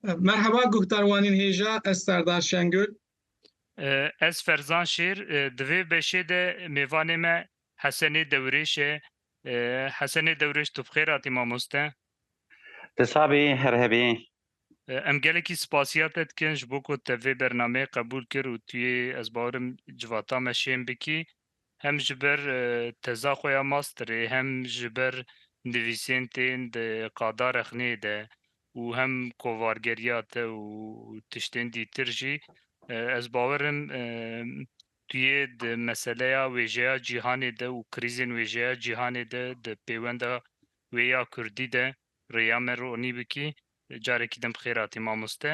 Merheba guhdar wanên hêja ez Serdar Şengul. Ez Ferzan Şêr di vê beşê de mêvanê me Hesenê Dewrêş e. Hesenê Dewrêş tu bi xêr hatî mamoste. Ti sax bî her hebî. Em gelekî spasiya te dikin ji bo ku te vê bernameyê qebûl kir û tu yê ez bawerim civata me şên bikî. Hem ji ber teza xwe ya masterê hem ji ber nivîsên tên di qadarexneyê de û hem kovargeriya te û tiştên dîtir jî ez bawer im tu yê di meseleya wêjeya cîhanê de û krîzên wêjeya cîhanê de di pêwenda wê ya kurdî de rêya me ronî bikî. Carekî din bi xêr hatî mamoste.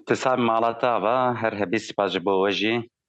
Ti sar mala te ava, her hebî sipas ji bo we jî.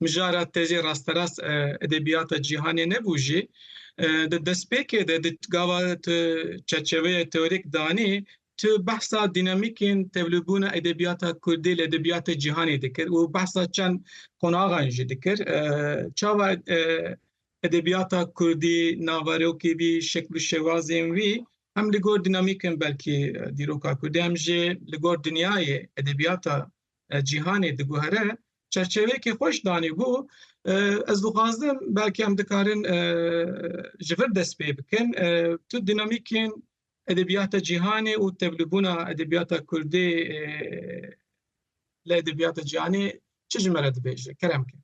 Mijara te jî rasterast edebiyata cîhanê nebû jî, di destpêkê de di gava tu çerçeveyê teorîk danî, tu behsa dînamîkên tevlûbûna edebiyata kurdî li edebiyatê cîhanê dikir û behsa çend qonaxan jî dikir. Çawa edebiyata kurdî naverokê wî, şekil û şewazên wî hem li gor dînamîkên belkî dîroka kurdî hem jî li gor dinyayê edebiyata cîhanê diguhere çerçeveyekê xweş danî bû ez dixwazim belkî em dikarin ji vir dest pê bikin tu dînamîkên edebiyata cîhanê û tevlibûna edebiyata Kurdê li edebiyata cîhanê çi ji me re dibêje kerem ke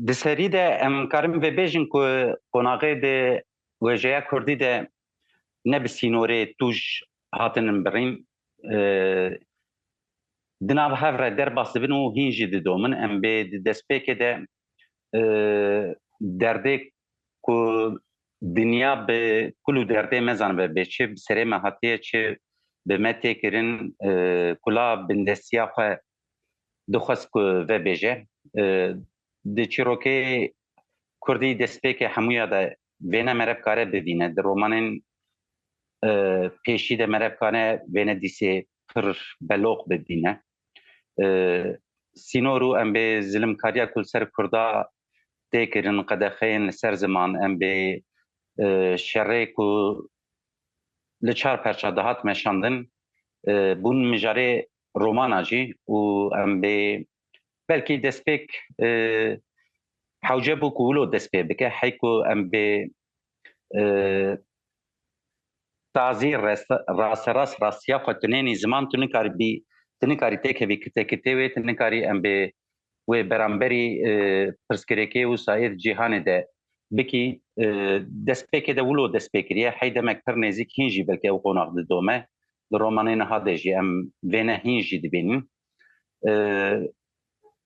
Di serî de em karin vêbêjin ku qonaxê di wêjeya Kurdî de ne bi sînorê tûj hatinin birîn di nav hev re derbas dibin û hîn jî didomin. Em bê di destpêkê de derdê ku dinya bi kul û derdê me zanibe bê çi bi serê me hatiye çi bi me tê kirin kula bindestiya xwe dixwest ku vebêje. Di çîrokê Kurdî destpêkê hemûya de Vêne mere bikare bivîne. Di romanên pêşî de mere bikare vêne dîsê pir beloq bibîne. Sînor û em bê zilimkariya ku li ser Kurda tê kirin, qedexeyên li ser ziman, em bê şerê ku li çar perça dihat meşandin, bûn mijarê romana jî û em bê Belkî destpêk hewce bû ku wilo dest pê bike hey ku em bê tazî rasterast rastiya xwe tu nênî ziman tu nikarî bî tu nikarî têkevî kite kitê wê tu nikarî em bê wê beramberî pirsgirêkê wisa êd cîhanê de bikî destpêkê de wilo dest pê kiriye hey demek pir nêzîk hîn jî belkî ew qonax didome li romanê niha de jî em vêne hîn jî dibînin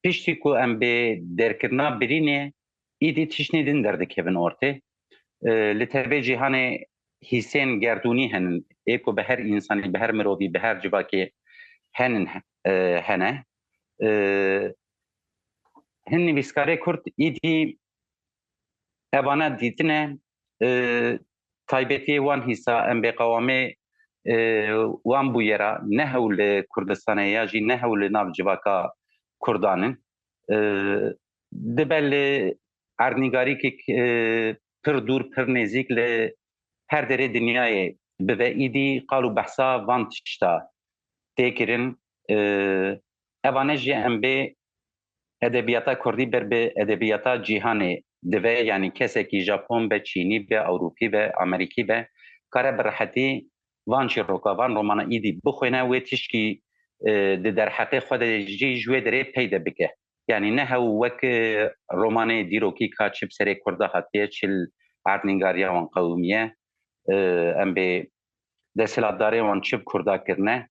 piştî ku em bê derkirina birînê îdî tiştî din derdikevin ortê li tevê cîhanê hîsên gerdûnî henin ê ku bi her însanî bi her mirovî bi her civakê henin hene hin nivîskarê kurd îdî evana dîtine Taybetiyê wan hîsa em bêqewamê wan bûye ra ne hewl li Kurdistanê ya jî ne hewl li nav civaka Kurdan in. Dibe li erdnîgarîkek pir dûr pir nêzîk li her derê dinyayê bibe îdî qal û behsa van tişta tê kirin. Evane jî em bê Edebiyata kurdî ber bi edebiyata cîhanê dive yanî kesekî Japon be, Çînî be, Ewropî be, Amerîkî be kare bi rehetî van çîroka, van romana îdî bixwîne wê tişkî di derheqê xwe de jî ji wê derê pey de bike. Yanî ne hew wek romanê dîrokî ka çi bi serê kurda hatiye çil erdnîngariya wan qewimiye em bê Desthilatdarê wan çi bi Kurda kirine,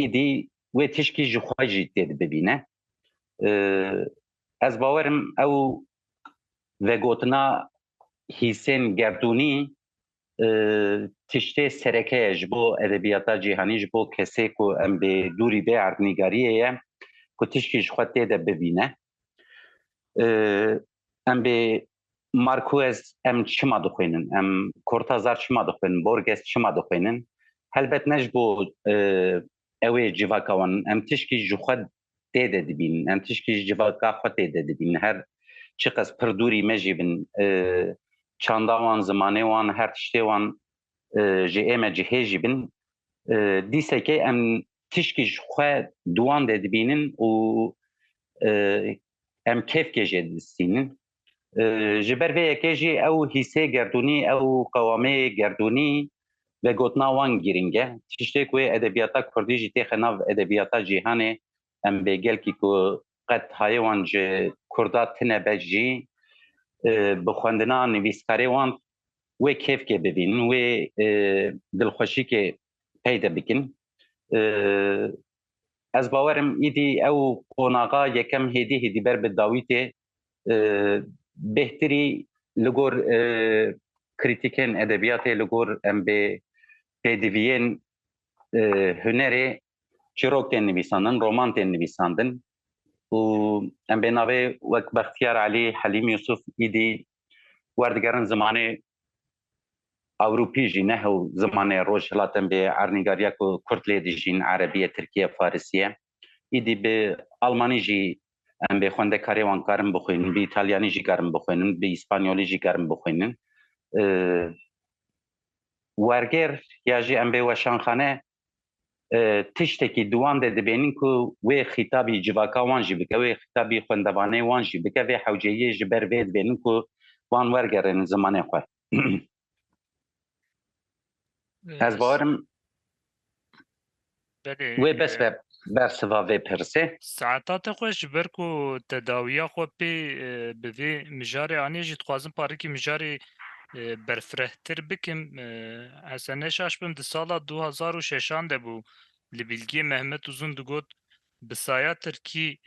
îdî wê tişkî ji xwe jî tê di bibîne. Ez bawerim ew vegotina hîsên gerdûnî tiştê sereke ye ji bo edebiyata cîhanî, ji bo kesê ku em bê dûrî bê erdnîgariyê ye ku tişkî ji xwe tê de bibîne. Em bê Markuez em çima dixwînin, em Kortazar çima dixwînin, Borges çima dixwînin, helbet ne ji bo ew ê civaka wan in, em tişkî ji xwe tê de dibînin, em tişkî ji civaka xwe tê de dibînin, her çiqas pir dûrî me jî bin, çanda wan, zimanê wan, her tiştê wan ji ême cihê jî bin, dîsekê em tişkî ji xwe di wan de dibînin û em kêfkê jê didistînin. Ji ber vê yekê jî ew hîsê gerdûnî, ew qewamê gerdûnî vegotina wan girîng e. Tiştê ku yê edebiyata kurdî jî têxe nav edebiyata cîhanê, em bê gelkî ku qet hayê wan ji kurda tine be jî bi xwendina nivîskarê wan wê kêfkê bibînin, wê dilxweşîkê peyde bikin. Ez bawerim îdî ew qonaxa yekem hêdî hêdî ber bi dawîtê bêhtirî li gor krîtîkên edebiyatê li gor em bê pêdiviyên hunerê çîrok tên nivîsandin, roman tên nivîsandin û em bê navê wek Bextiyar Elî, Helîm Yusuf îdî werdigerin zimanê Ewropî jî ne hew zimanê Rojhilatin bê ernîgariya ku Kurd lê dijîn Erebiye, Tirkiye, Farisiye. Îdî bi Almanî jî em bê xwendekarê wan karin bixwînin, bi Îtalyanî jî karin bixwînin, bi Îspanyolî jî karin bixwînin. Wergêr ya jî em bê weşanxane tiştekî di wan de dibênin ku wê xîtabî civaka wan jî bike, wê xîtabî xwendevanê wan jî bike, vê hewceyiyê ji ber vê dibênin ku wan wergerênin zimanê xwe. Ez bawerim wê bes be. bersiva vê pirsê. Saeta te xwe ji ber ku tedawiya xwe pê bi vê mijarê anî jî dixwazim parikî mijarê berfirehtir bikim. Esa neşaş bim di sala du hezar û şeşan de bû li Bîlgiyê Mehmet Uzun digot bi saya tirkî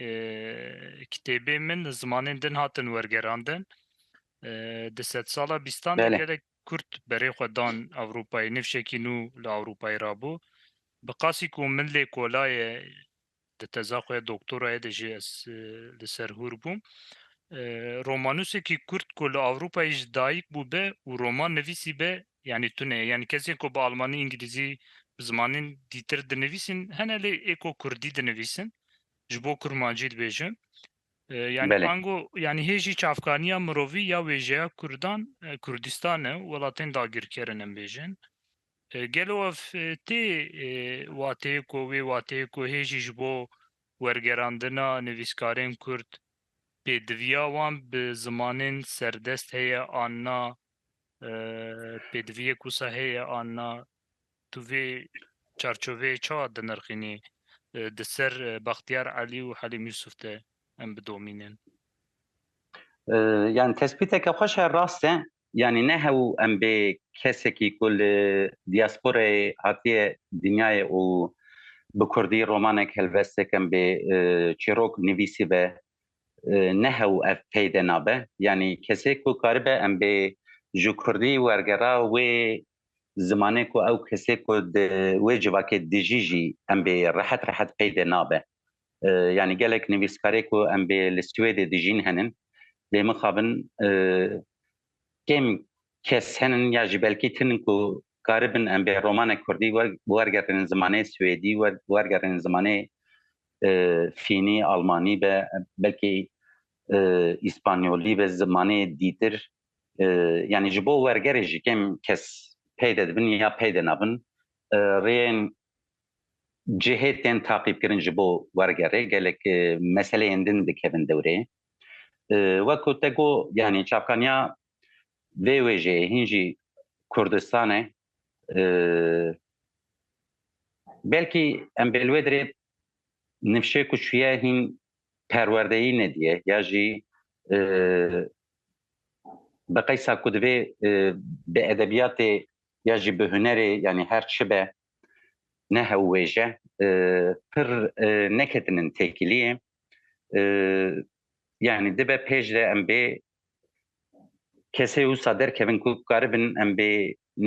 kitêbên min zimanên din hatin wergerandin. Di sedsala bîstan de gelek Kurd berê xwe dan Ewropayê, nifşekî nû li Ewropayê rabû. Bi qasî ku min lê kola ye di teza xwe ya doktorayê de jî ez li ser hûr bûm. Romanûsekî Kurd ku li Ewropayê jî dayik bûbe û roman nivîsîbe yanî tune ye. Yanî kesên ku bi almanî, îngilîzî, bi zimanên dîtir dinivîsîn hene lê ê ku kurdî dinivîsin, ji bo kurmancî dibêjim, Yani ango yani hê jî çavkaniya mirovî ya wêjeya Kurdan, Kurdistan e û welatên dagirkerin em bêjin. Gelo ev tê wateyê ku wê wateyê ku hê jî ji bo wergerandina nivîskarên Kurd pêdiviya wan bi zimanên serdest heye an na, pêdiviyek wisa heye an na Tu vê çarçoveyê çawa dinirxînî di ser Baxtiyar Elî û Helîm Yusuf de em bidomînin? Yani tespîteke xweş e, rast e. Yani ne hew em bê kesekî ku li diasporayê hatiye dinyayê û bi kurdî romanek helvesteke em bê çîrok nivîsîbe ne hew ev peyde nabe. Yani kesê ku karibe em bê ji kurdî wergera wê zimanê ku ew kesê ku di wê civakê dijî jî em bê rehet rehet peydê nabe. Yanî gelek nivîskarê ku em bê li Swêdê dijîn henin, bê mixabin kêm kes henin ya jî belkî tinin ku karibin em bê romanek kurdî wergerînin zimanê swêdî, wergerînin zimanê fînî, almanî be, belkî îspanyolî be, zimanê dîtir yanî ji bo wergerê jî kêm kes peyde dibin ya peyde nabin rêyên cihê tên taqîbkirin ji bo wergerê gelek meseleyên din dikevin dewrê wek ku te got yanî çavkaniya vê wêjeyê hîn jî Kurdistan e belkî em bê li wê dirê nifşê ku çûye hîn perwerdeyî nediye ya jî Bi qeysa ku divê bi edebiyatê ya jî bi hunerê yanî her çi be ne hewwêje pir neketin in têkiliyê yanî dibe pêş de em bê kesê wisa derkevin ku karibin em bê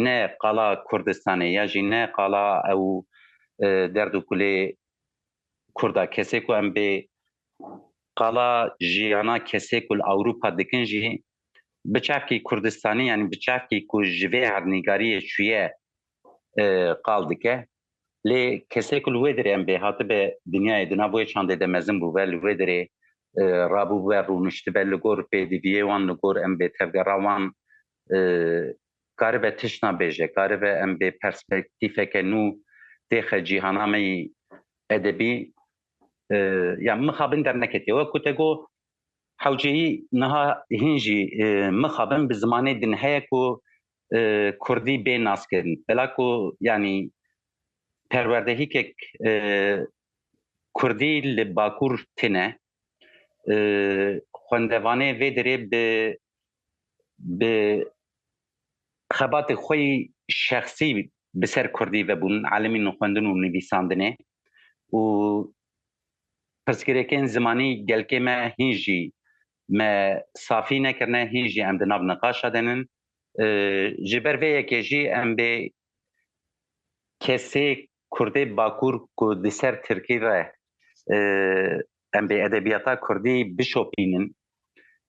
ne qala Kurdistanê ya jî ne qala ew derd û kulê Kurd a kesê ku em bê qala jiyana kesê ku li Ewropa dikin jî bi çavkî Kurdistanî yanî bi çavkî ku ji vê erdnîgariyê çûye qal dike. Lê kesê ku li wê derê em bê hatibe dinyayê di nav wê çandê de mezin bûbe li wê derê rabûbe rûniştibe li gor pêdiviyê wan li gor em bê tevgera wan karibe tişna bêje, karibe em bê perspektîfeke nû têxe cîhana me yî edebî. Ya mixabin derneketiye. Wek ku te got hewceyî niha hîn jî mixabin bi zimanê din heye ku kurdî bê naskirin. Bela ku yanî perwerdehîkek kurdî li Bakur tine, xwendevanê vê derê bi bi xebatê xwe yî şexsî bi ser Kurdî vebûn, elimî nixwendin û nivîsandinê û pirsgirêkên zimanî gelkê me hîn jî me safî nekirine, hîn jî em di nav niqaşa de nin. Ji ber vê yekê jî em bê kesê Kurdê Bakur ku di ser Tirkî re Em bi edebiyata kurdî bişopînin,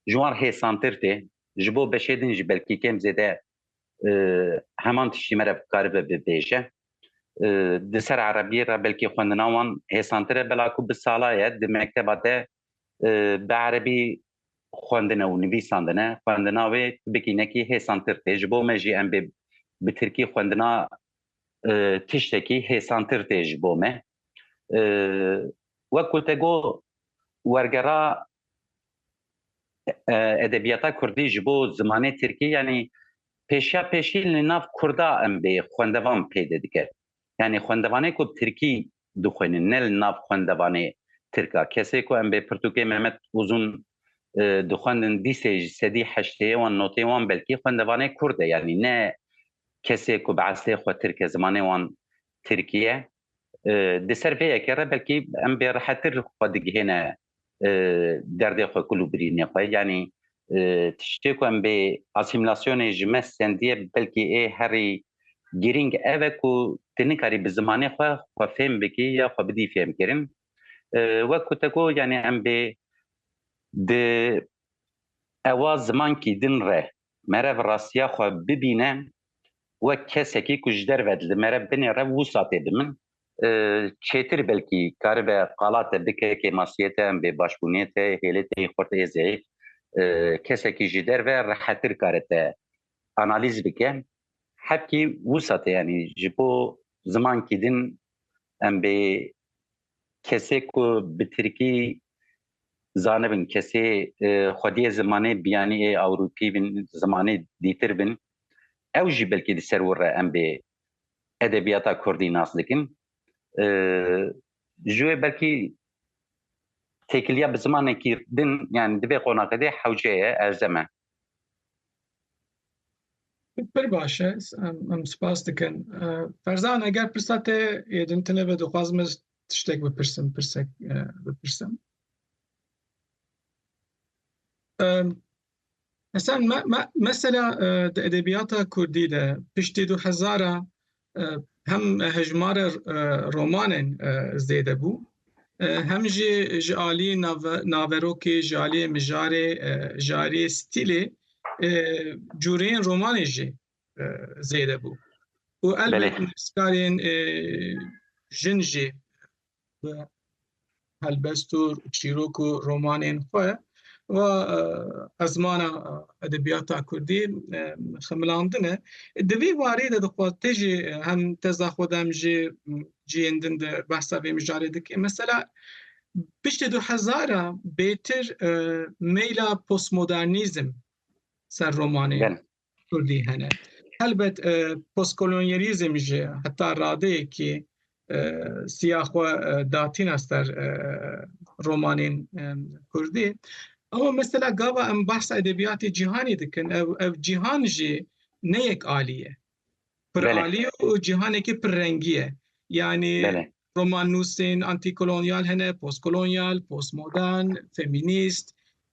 ji wan hêsantir tê. Ji bo beşê din jî belkî kêm zêde heman tiştî me re bikaribe bibêje. Di ser erebiyê re belkî xwendina wan hêsantir e, bela ku bi salaye di mekteba de bi erebî xwendine û nivîsandine, xwendina wê tibikî nekî hêsantir tê. Ji bo me jî em bê bi tirkî xwendina tiştekî hêsantir tê ji bo me. Wek ku te got wergera edebiyata kurdî ji bo zimanê tirkî yanî pêşiya pêşî li nav kurda em bê xwendevan pêde dike. Yanî xwendevanê ku bi tirkî dixwînin ne li nav xwendevanê tirka. Kesê ku em bê pirtûkê Mehmet Uzun dixwendin dîsê ji sedî heştê wan notê wan belkî xwendevanê kurd e yanî ne kesê ku bi eslê xwe tirk e zimanê wan tirkî ye. Di ser vê yekê re belkî em bê rehetir xwe digihêne derdê xwe kul û birînê xwe. Yanî tiştê ku em bê asîmîlasyonê ji me sendiye belkî ê herî girîng ev e ku tu nikarî bi zimanê xwe xwe fêm bikî ya xwe bidî fêmkirin. Wek ku te got yanî em bê di ewa zimankî din re Mere bi rastiya xwe bibîne wek kesekî ku ji derve li mere binê rev wisa tê bi min çêtir belkî karibe qala te bike kê masiyê te em bê başbûnê te hêlê te yê xurt ê zeyf kesekî ji derve rehetir kare te analîz bike hebkî wisa tê yanî ji bo zimankî din em bê kesê ku bi tirkî zanibin kesê xwediyê zimanê biyanî ê ewropî bin zimanê dîtir bin ew jî belkî di ser wir re em bê edebiyata kurdî nas dikin ji wê belkî têkiliya bi zimanekî din yani divê qonaqedê hewce ye erzeme Pir baş e. Em spas dikin. Ferzan eger pirsa te yê din tune be dixwazim ez tiştek bipirsim, pirsek bipirsim. Esen me mesela di edebiyata kurdî de piştî du hezar a Hem hejmara romanên zêde bû hem jî ji aliyê naverokê, ji aliyê mijarê, ji aliyê stîlê cûreyên romanê jî zêde bû. Û elbet nivîskarên jin jî bi helbest û çîrok û romanên xwe va ezmana edebiyata Kurdî xemilandine. Di vî warî de dixwaz tê jî hem teza xwe de hem jî ciyên din de behsa vê mijarê dike. Mesela piştî du hezar a bêtir meyla postmodernîzm ser romanê Kurdî hene. Helbet postkolonyalîzm ji heta radeyekî siya xwe datîna ser romanên Kurdî. Ama mesela gava em bahsa edebiyatê cîhanê dikin ew ev cîhan jî ne yek alî ye. Pir alî ye û cîhanekî pir rengî ye. Yanî romannûsên antîkolonyal hene, postkolonyal, postmodern, femînîst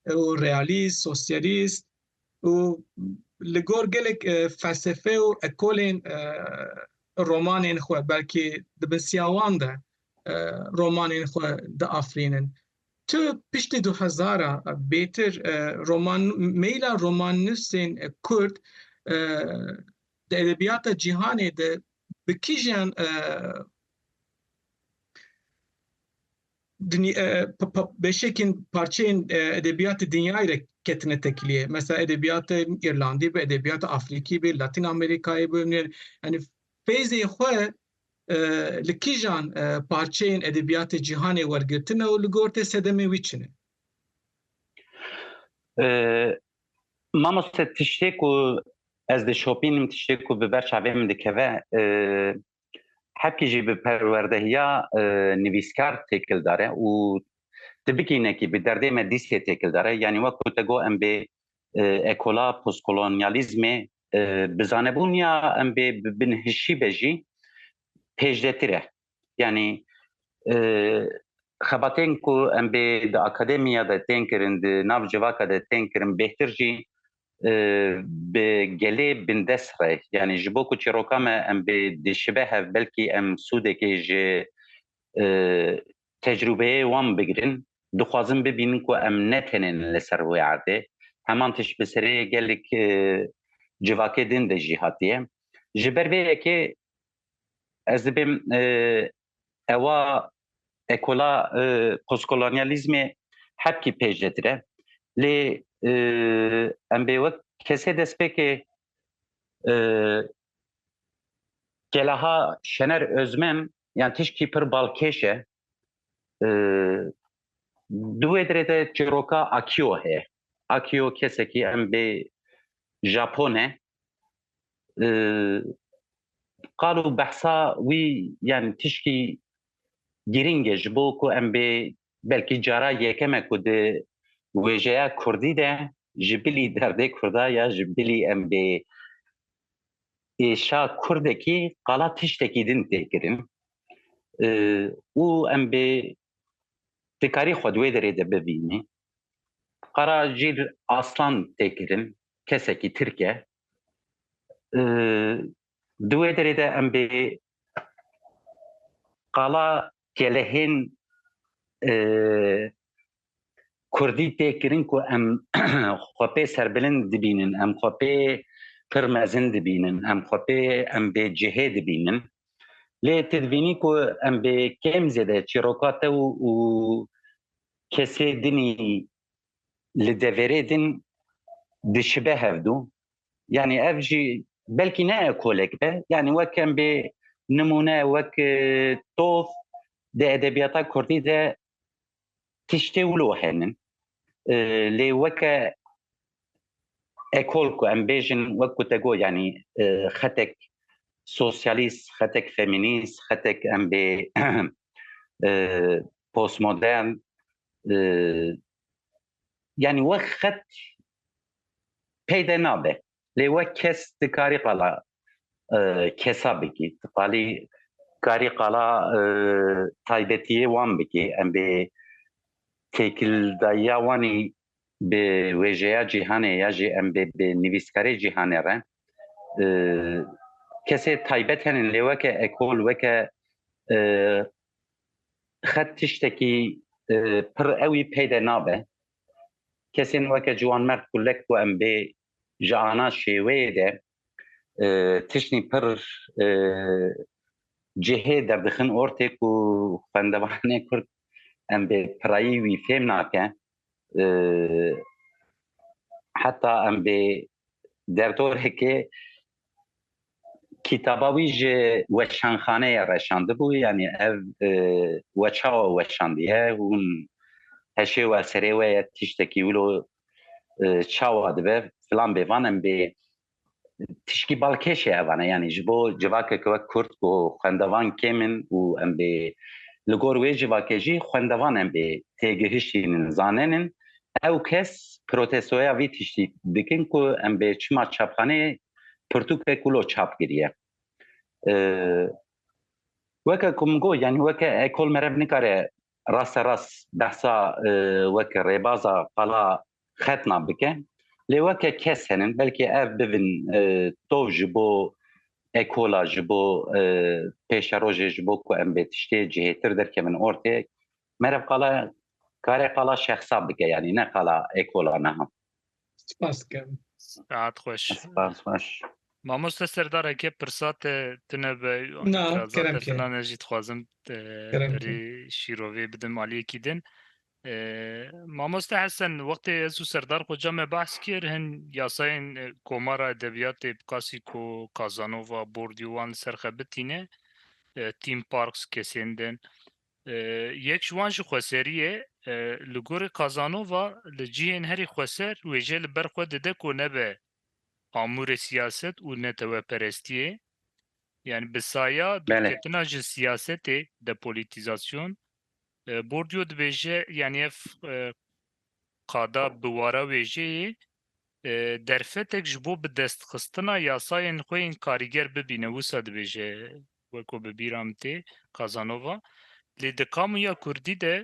û realîst, sosyalîst, û li gor gelek felsefe û ekolên romanên xwe belkî di bin siya wan de romanên xwe diafirînin. Tu piştî du hezar a bêtir roman meyîla romannivîsên kurd di edebiyata cîhanê de bi kîjan Beşekîn parçeyên edebiyatê dinyayê re ketine tekliyê. Mesela edebiyatê Îrlandî be, edebiyatê Afrîkî be, Latîn Amerîkayê be. Yanî feyzê xwe li kîjan parçeyên edebiyatê cîhanê wergirtine û li gor te sedemên wî çi ne? Mamoste tiştê ku ez dişopînim, tiştê ku bi ber çavê min dikeve hepkî jî bi perwerdehiya nivîskar têkildar e û tu bikînekî bi derdê me dîstê têkildar e yanî wek ku te got em bê ekola postkolonyalîzmê bi zanebûn ya em bê bi binhişî be jî pêşdetir e yanî xebatên ku em bê di akademiya de tên kirin di nav civaka de tên kirin bêhtir jî bi gelê bindest re yanî ji bo ku çîroka me em bê dişibe hev belkî em sûdekê ji tecrûbeyê wan bigirin dixwazin bibînin ku em ne tenên li ser wê erdê heman tişt bi serê gelek civakê din de jî hatiye ji ber vê yekê ez dibêm ewa ekola postkolonyalîzmê hepkî pêş de dire. Lê em bê wek kesê destpêkê gelaha Şener Özmen yan tişkî pir balkêş e. Di wê dirê de çîroka Akio heye. Akio kesekî em bê Japon e, qal û behsa wî yan tişkî girîng e ji bo ku em bê belkî cara yekem e ku di wêjeya Kurdî de ji bilî derdê Kurda ya ji bilî em bê êşa Kurdekî qala tiştekî din tê kirin û em bê dikarî xwe di wê derê de bibînî. Qara jîr aslan tê kirin kesekî Tirk e. Di wê derê de em bê qala gelehên Kurdî tê kirin ku em xwe pê serbilind dibînin, em xwe pê pir mezin dibînin, em xwe pê em bê cihê dibînin. Lê tu dibînî ku em bê kêm zêde çîroka te û kesê dinî li deverê din dişibe hevdû. Yani ev jî belkî ne ekolek be. Yani wek em bê nimûne wek e, tof di edebiyata Kurdî de tiştê wilo henin. E, lê weke ekol ku em bêjin wek ku te got yani e, xetek sosyalist, xetek feminist, xetek em bê e, postmodern yani wek xet peyde nabe lê wek kes dikarî qala kesa bikî qalî karî qala taybetiyê wan bikî em bê têkildayiya wanî bi wêjeya cîhanê ya jî em bê bi nivîskarê cîhanê re kesê taybet henin lê weke ekol weke xet tiştekî pir ewî peyde nabe. Kesên weke ciwanmerd ku lek ku em bê ji ana şêweyê de tiştî pir cihê derdixin ortê ku xwendevanê Kurd em bê pirayî wî fêm nake. heta em bê derdoreke kitaba wî ji weşanxaneyê reşandibû yanî ev weçawa weşandiye hûn heşê we serê we ye tiştekî wilo çawa dibe filan bê van em bê tişkî balkêş e evan e yanî ji bo civakeke wek kurd ku xwendevan kêm in û em bê li gor wê civakê jî xwendevan em bê têgihişînin zanênin ew kes protestoya vî tiştî dikin ku em bê çima çapxaneyê pirtûkek wilo çap kiriye weke ku min got yanî weke ekol merev nikare rasterast behsa weke rêbaza qala xetna bike lê weke kes henin belkî ev bibin e, tov ji bo ekola ji bo e, pêşerojê ji bo ku em bê tiştê cihêtir derkemin ortê merev qala karê qala şexsa bike yanî ne qala ekola neha Spas dikim. Rahat xweş. Spas xweş. Mamoste serdareke pirsa te tune be Na, itirazat kerem te ki. tuna ne jî dixwazim te Kerem ki. berî şîrovê bidim aliyekî din. Mamoste Hesen, wextê ez û Serdar Xoca me behs kir, hin yasayên Komara Edebiyatê Picassico, Casanova, Bourdieu wan li ser xebitîne, theme parks kesên din. Yek ji wan jî xweserî ye. Li gorî Casanova li cihên herî xweser wêje li ber xwe dide ku nebe amûrê siyaset û neteweperestiyê. Yanî bi saya dûrketina ji siyasetê, depolitîzasyon, Bourdieu dibêje yanî ev qada bi wara wêjeyê derfetek ji bo bidestxistina yasayên xwe yên karîger bibîne. Wisa dibêje weko bi bîra min tê Casanova lê di kamuya kurdî de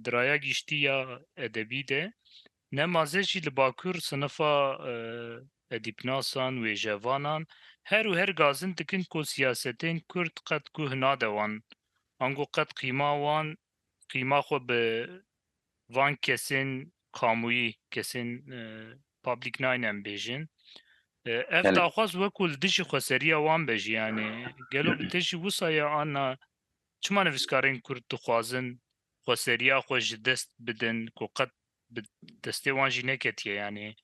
di raya giştî ya edebî de Ne mazê jî li Bakur sinifa edîbnasan, wêjevanan her û her gazin dikin ku siyasetên Kurd qet guh nade wan, ango qet qîma wan, qîma xwe bi van kesên kamûyî, kesên public nayne em bêjin. Ev daxwaz wekû li dijî xweseriya wan be jî yanî gelo bi te jî wisa ye anna çima nivîskarên Kurd dixwazin xweseriya xwe ji dest bidin ku qet bi destê wan jî neketiye yanî.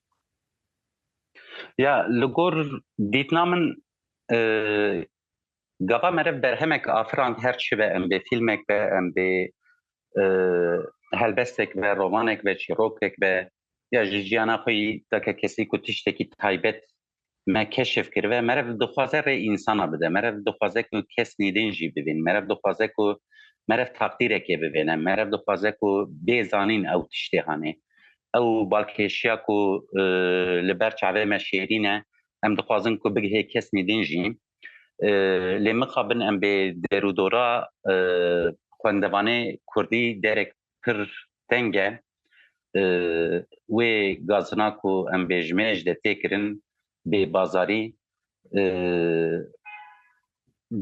Ya li gor dîtina min gava meriv berhemek afirand her çi be em bê fîlmek be em bê helbestek be rovanek be çîrokek be ya ji jiyana xwe yî dake kesî ku tiştekî taybet me keşif kiribe merev dixwaze rê însana bide merev dixwaze ku kes nêdên jî bibîn merev dixwaze ku merev taqdîrekê bibêne merev dixwaze ku bê zanîn ew tiştê hanê ew balkêşiya ku e, li ber çavê me şêrîne em dixwazin ku bigihê kes nêdên jî e, lê mixabin em bê derûdora e, xwendevanê kurdî derek pir tenge Wê gazina ku em bêjimêr ji de tê kirin bê bazarî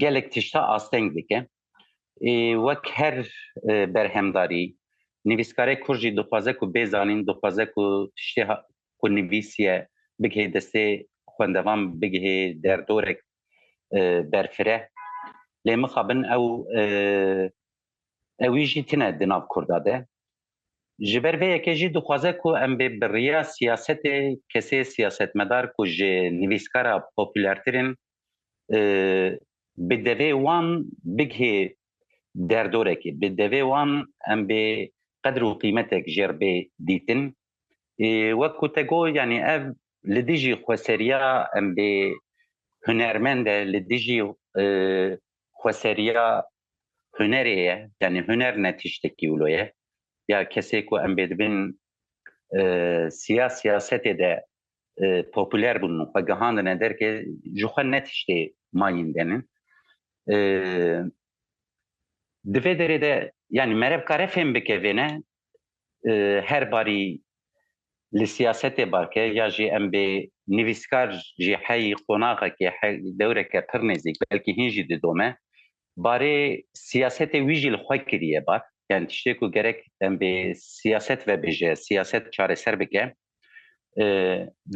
gelek tişta asteng dike. Ê wek her berhemdarî nivîskarê kur jî dixwaze ku bê zanîn, dixwaze ku tiştê ku nivîsiye bigihê destê xwendevan, bigihê derdorek berfireh. Lê mixabin ew Ewî jî tine di nav Kurda de. Ji ber vê yekê jî dixwaze ku em bê bi riya siyasetê kesê siyasetmedar ku ji nivîskara popûlertir in bi devê wan bigihê derdorekê, bi devê wan em bê qedr û qîmetek jêr bê dîtin. Wek ku te got yanî ev li dijî xweseriya em bê hunermend e, li dijî xweseriya hunerê ye yanî huner ne tiştekî wilo ye ya kesê ku em bê dibin siya siyasetê de popüler bûn û xwe gihandine derkê ji xwe ne tiştê mayîn denin di vê derê de yanî merev kare fêm bike vêne her barî li siyasetê barke ya jî em bê nivîskar jî heyî qonaxekê he dewreke pir nêzîk belkî hîn jî didome barê siyasetê wî jî li xwe kiriye bar yani tiştê ku gerek em bê siyaset vebêje siyaset çareser bike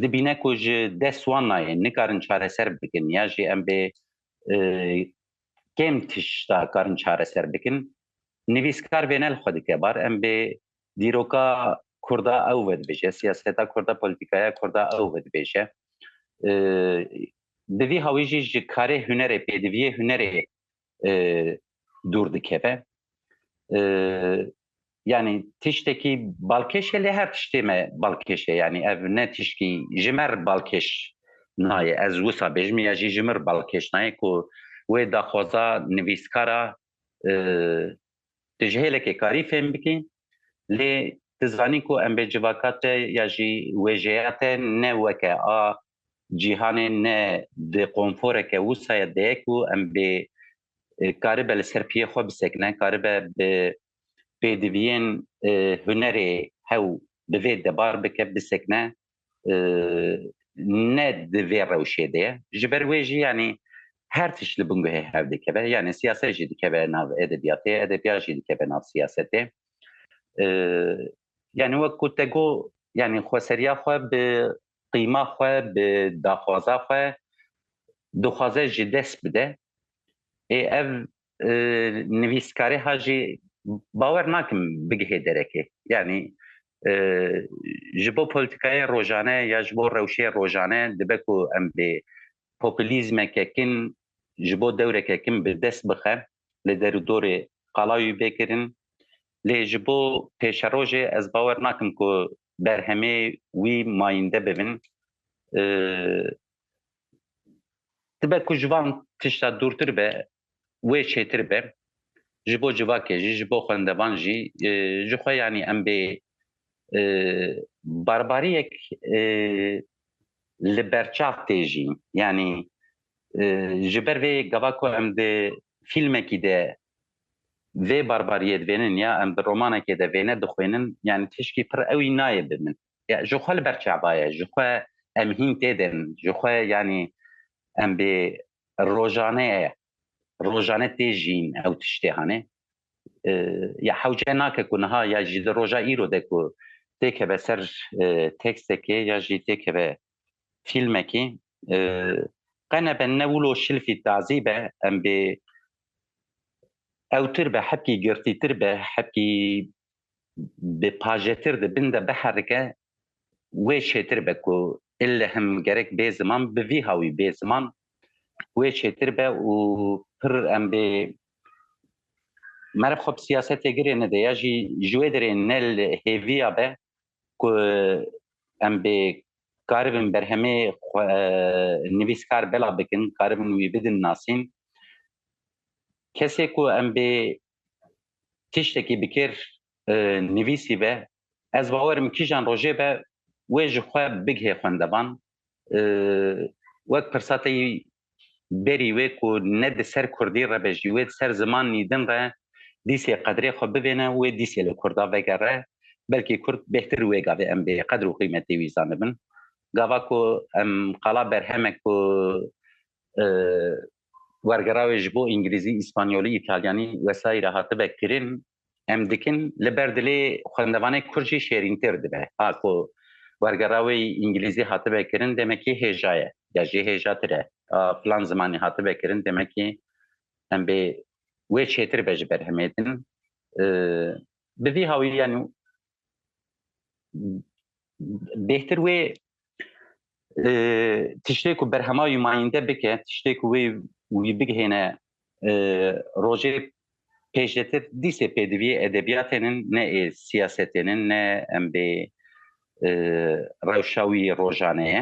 dibîne ku ji dest wan nayê nikarin çareser bikin ya jî em bê kêm tişta karin çareser bikin. Nivîskar vênel xwe dike bar em bê dîroka Kurda ew vedibêje, siyaseta Kurda, polîtîkaya Kurda ew vedibêje. Bi vî hawî jî ji karê hunerê pêdiviyê hunerê dûr dikeve. yanî tiştekî balkêşê lê her tiştê me balkêşê yanî ev ne tişkî ji me re balkêş nayê ez wisa bêjim ya jî ji min re balkêş nayê ku wê daxwaza nivîskara tu ji hêlekê karî fêm bikî lê tu zanî ku em bê civaka te ya jî wêjeya te ne weke a cîhanê ne di qonforeke wisaya deye ku em bê karibe li ser piyê xwe bisekine, karibe bi pêdiviyên hunerê hew bi vê debar bike bisekine ne di vê rewşê de ye. Ji ber wê jî yanî her tişt li bingehê hev dikeve. Yanî siyaset jî dikeve nav edebiyatê, edebiyat jî dikeve nav siyasetê. Yanî wek ku te got, yanî xweseriya xwe bi qîma xwe bi daxwaza xwe dixwaze ji dest bide. Ê ev nivîskarê ha jî bawer nakim bigihe derekê. Yanî ji bo polîtîkayê rojane ya ji bo rewşê rojane dibe ku em bê populîzmeke kin ji bo dewreke kin bi dest bixe li derûdorê qala wî bê kirin. Lê ji bo pêşerojê ez bawer nakim ku berhemê wî mayînde bibin. Dibe ku ji van tişta dûrtir be wê çêtir be ji bo civakê jî ji bo xwendevan jî ji xwe yanî em bê barbariyek li berçav tê jî yanî ji ber vê gava ku em di fîlmekî de vê barbariyê divênin ya em di romanekê de vêne dixwênin yanî tişkî pir ewî nayê bi min. Ya ji xwe li ber çaba ye, ji xwe em hîn tê derin, ji xwe yanî em bê rojane ye, rojane tê jîn ew tiştê hanê. Ya hewce nake ku niha ya jî di roja îro de ku têkeve ser tekstekê ya jî têkeve fîlmekê Qe nebe ne wilo şilfî tazî be em bê ewtir be hepkî girtîtir be hepkî bi pajetir di bin de biherike wê çêtir be ku illehim gerek bê ziman bi vî hawî bê ziman wê çêtir be û pir em bê merib xwe bi siyasetê girê nede ya jî ji wê derê ne li hêviya be ku em bê karibin berhemê nivîskar bela bikin, karibin wî bidin nasîn. Kesê ku em bê tiştekî bikêr nivîsî be, ez bawerim kîjan rojê be wê ji xwe bigihê xwendevan. wek pirsa te yî berî wê ku ne di ser kurdî re be jî wê di ser ziman nîdin re dîsê qedrê xwe bivêne û wê dîsê li kurda vegere belkî kurd bêhtir wê gavê em bê qedr û qîmetê wî zanibin gava ku em qala berhemek ku wergerawê ji bo îngilîzî, îspanyolî, îtalyanî wesayî re hatibe kirin, em dikin, li ber dilê xwendevanê kurd jî şêrîntir dibe. Ha ku wergerawê îngilîzî hatibe kirin demekî hêja ye, ger jî hêja tir e, a filan zimanî hatibe kirin demekî em bê wê çêtir be ji berhemê din. Bi vî hawî yanî bêhtir wê tiştê ku berhema wî mayînde bike tiştê ku wê wî bigihêne rojê pêşdetir dîsê pêdiviyê edebiyatênin ne ê siyasetênin ne em bê rewşa wî rojaneye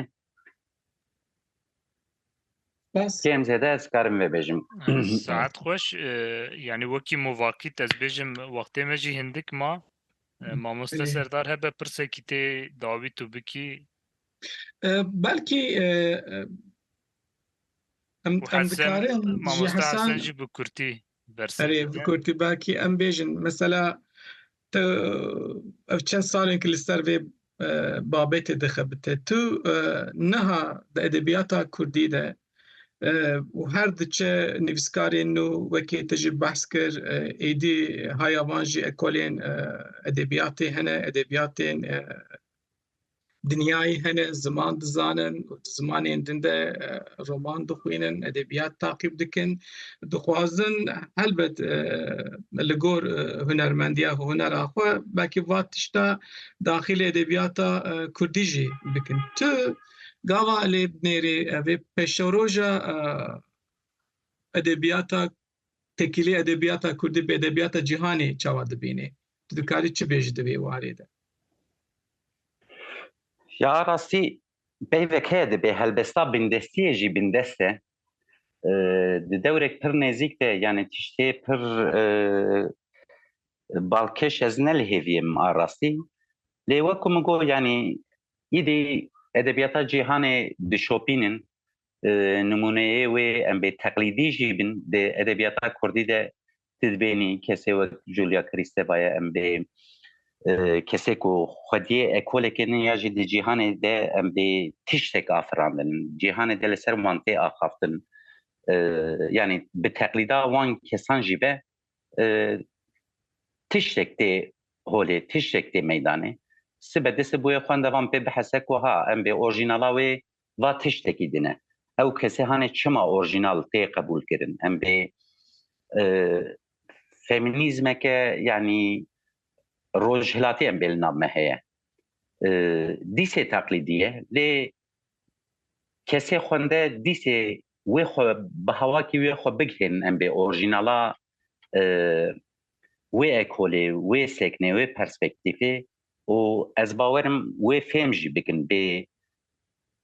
Kêm zêde ez karim vê bêjim. Saet xweş yanî wekî movakît ez bêjim wextê me jî hindik ma mamoste serdar hebe pirsekî tê dawî tu bikî belkî em em dikarin mamoste jî bi kurtî berse kurtî belkî em bêjin mesela Tu ev çend sal in ku li ser vê babetê dixebite. Tu niha di edebiyata Kurdî de û her diçe nivîskarên nû wekî tu jî behs kir êdî haya van jî ekolên edebiyatê hene, edebiyatên Dinyayê hene ziman dizanin û di zimanên din de roman dixwînin, edebiyat taqîb dikin. Dixwazin helbet li gor hunermendiya xwe, hunera xwe belkî va tişta daxilê edebiyata kurdî jî bikin. Tu gava lê binêrî vê peşeroja edebiyata tekîlê edebiyata Kurdî bi edebiyata cîhanê çawa dibînê? Tu dikarî çi bêjî di vê warê de? Ya rastî peyvek heye dibê helbesta bindestiyê jî bindest e. Di dewrek pir nêzîk de yanê tiştê pir balkêş ez nelihêvîm a rastî. Lê wek ku min got yanî îdî edebiyata cîhanê dişopînin Nimûneyê wê em bê teqlîdî jî bin di edebiyata kurdî de tu dibênî kesê wek Julia Kristeva ye em bê kesê ku xwediyê ekolekê ne ya jî di cîhanê de em bê tiştek afirandin cîhanê de li ser wan tê axaftin yanî bi teqlîda wan kesan jî be tiştek tê holê tiştek tê meydanê sibe dise bûye xwendevan pê bihese ku ha em bê orjînala wê va tiştekî din e. Ew kesê hane çima orjînal tê qebûlkirin? Em bê feminîzmeke yanî rojhilatê em bê li nav me heye. Dîsê teqlîdî ye lê kesê xwende dîsê wê xwe bi hawakî wê xwe bigihênin em bê orjînala wê ekolê, wê seknê, wê perspektîfê û ez bawerim wê fêm jî bikin bê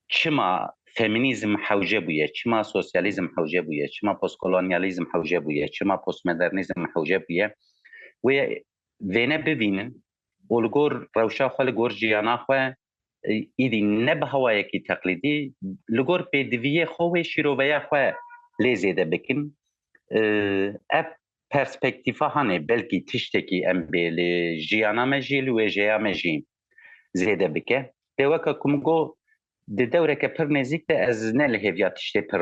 çima feminîzm hewce bûye, çima sosyalîzm hewce bûye, çima postkolonyalîzm hewce bûye, çima postmodernîzm hewce bûye wê vêne bivînin û li gor rewşa xwe li gor jiyana xwe Îdî ne bi hewayekî teqlîdî li gor pêdiviyê xwe wê şîroveya xwe lê zêde bikin. Ev perspektîfa hanê belkî tiştekî em bê li jiyana me jî li wêjeya me jî zêde bike. Dê weke ku min got di dewreke pir nêzîk de ez ne li hêviya tiştê pir